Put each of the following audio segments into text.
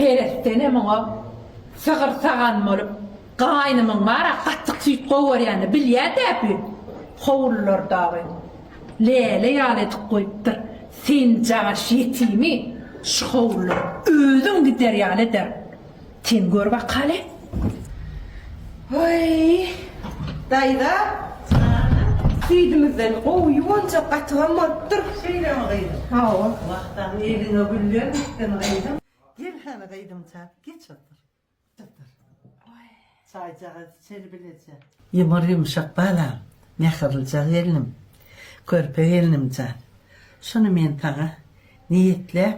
Heresdenem oňa sygyr-sagan bolup, gaýnymyň bar-a, gaty süýt gowarýany bilýä däbi, howlular dagy läle ýaly edip goýupdyr, sen jagaş ýetimi şu howlulara özüň gider ýaly eder. Sen gör bakaly! Hoý, daýza, süýdümizden gowy ýuwanjak gatygam bolupdyr. Şeýlemi, gyzym? Hawa. Wah-tah, eliňe güller gitsin, gyzym. Gel hany, gyzymjak, geç otur. Otur. Çaýjagaz içeli bileje. Ýumur-ýumşak balam, mähirlijak gelnim, körpe gelnimjan, şuny men saňa niýetläp.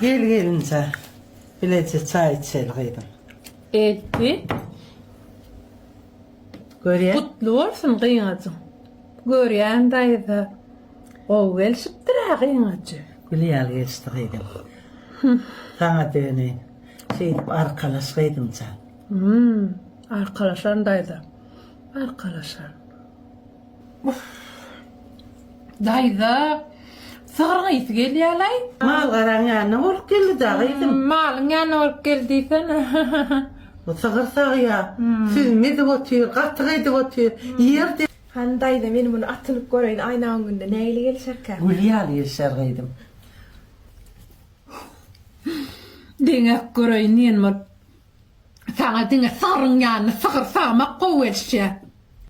Gel gelinja, bileje çaý içeli gyzym. Elti. Görýän. Gutly bolsun gyňajyň. Görýän daýza. Gowy gelşipdir-ä gyňajy. Gül ýaly gelşdi gyzym. Saňa döneýin. Şeýdip arkalaş gyzymjan. Hum, arkalaşaryn daýza. Arkalaşaryn. Daýza sygryň ysy gelýälaý. Mal garaň ýanyna bolup geldi da gyzym. Malyň ýanyna bolup geldi diýsene. Bu sygyr sagýa, süzme edip otyr, gatyk edip otyr. Ýer de. Hany daýza men muny atynyp göreýin aýna öňünde nähili gelişerkä. Gül ýaly gelişer gyzym. Deňäp göreýin diýen bolup. Saňa diňe sygryň ýanyna sygyr sagmak gowy gelişýä.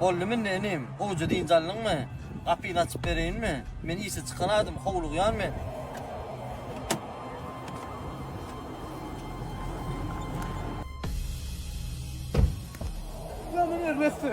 Boldumy indi inim, gowja dynç aldyňmy? Gapyny açyp bereýinmi? Men işe çykan adam, howlugýan men. Janyň erbetsi.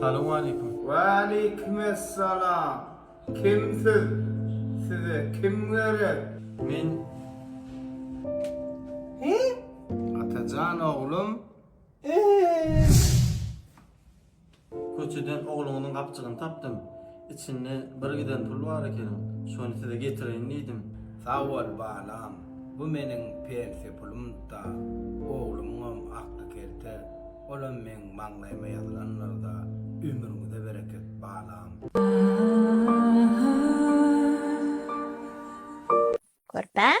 Salam aleykum. Wa aleykum assalam. Kim siz? Size kim gerek? Men He? Atajan oglum. Eee. Köçeden ogluňyzyň gapjygyny tapdym. Içinde bir giden pul bar ekeniň. Şony size getireýin diýdim. Sag bol, balam. Bu meniň pensiýa pulum-da, oglumyňam akly kelter. Olam meň maňlaýyma ýazylandyr-da. Ömrüňize bereket, balam. Körpäm.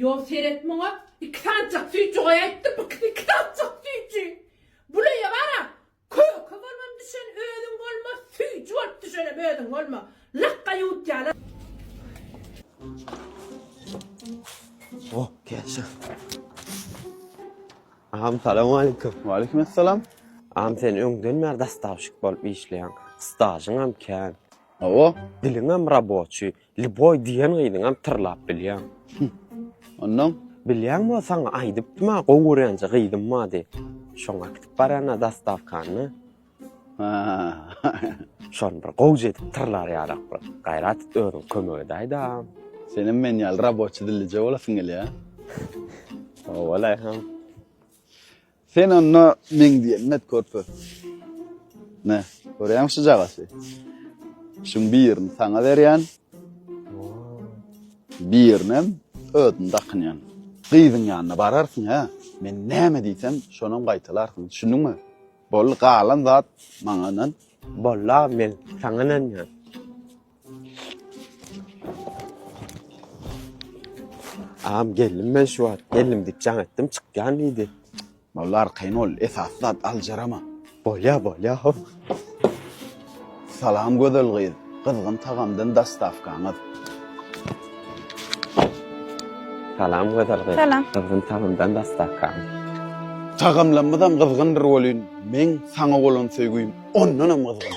Ýok seret muňa iki sanjak süýji goý aýtdym ikisi iki sanjak süýji buleýe bara köke bolmam düşen özüň bolma süýji bolup düşenem özüň bolma lakga ýutýalar. O, käşe. Agam, salam aleykum. Waleýkim assalam. Agam, sen öňden bäri dastavşik bolup işleýäň. Stažyňam kän. Hawa. Diliňem raboçi. Liboy diýen gyzyňam tyrlap bilýän. Hüh. Onnoň? Bilýän bolsaň aýdypdym-a gowy görýänje gyzym bar diýip. Şoňa gidip barýan-a zastawkanyna. Hä-hä. Şony bir gowja edip tyrlar ýaly-ak bir gaýrat et özüň kömek edäýdä-a. Senem men ýaly raboçi dillije bolasyň gelýä? Ho-o-laý-hym. Sen onda meň diýenim et körpe. Ne, görýäň şu jagasy? Şuň birini saňa berýän. Birinem özüm dakynýan. Gyzyň ýanyna bararsyň hä? Men näme diýsem, şonam gaýtalarsyň. Düşündiňmi? Boldy, galan zat maňa ynan. Boldy aga, men saňa ynanýan. Agam geldim men şu wagt. Geldim diýip jaň etdim, çykýan diýdi. Molla arkaýyn bol, esasy zat aljarama. Bolýa, bolýa, hop. Salam gözel gyz, gyzgyn tagamdan dostawkaňyz. Salam gözel gyz. Salam. Gyzgyn tagamdan dostawkaň. Tagamlarymyzam gyzgyndyr welin, meň saňa bolan söýgim ondanam gyzgyn.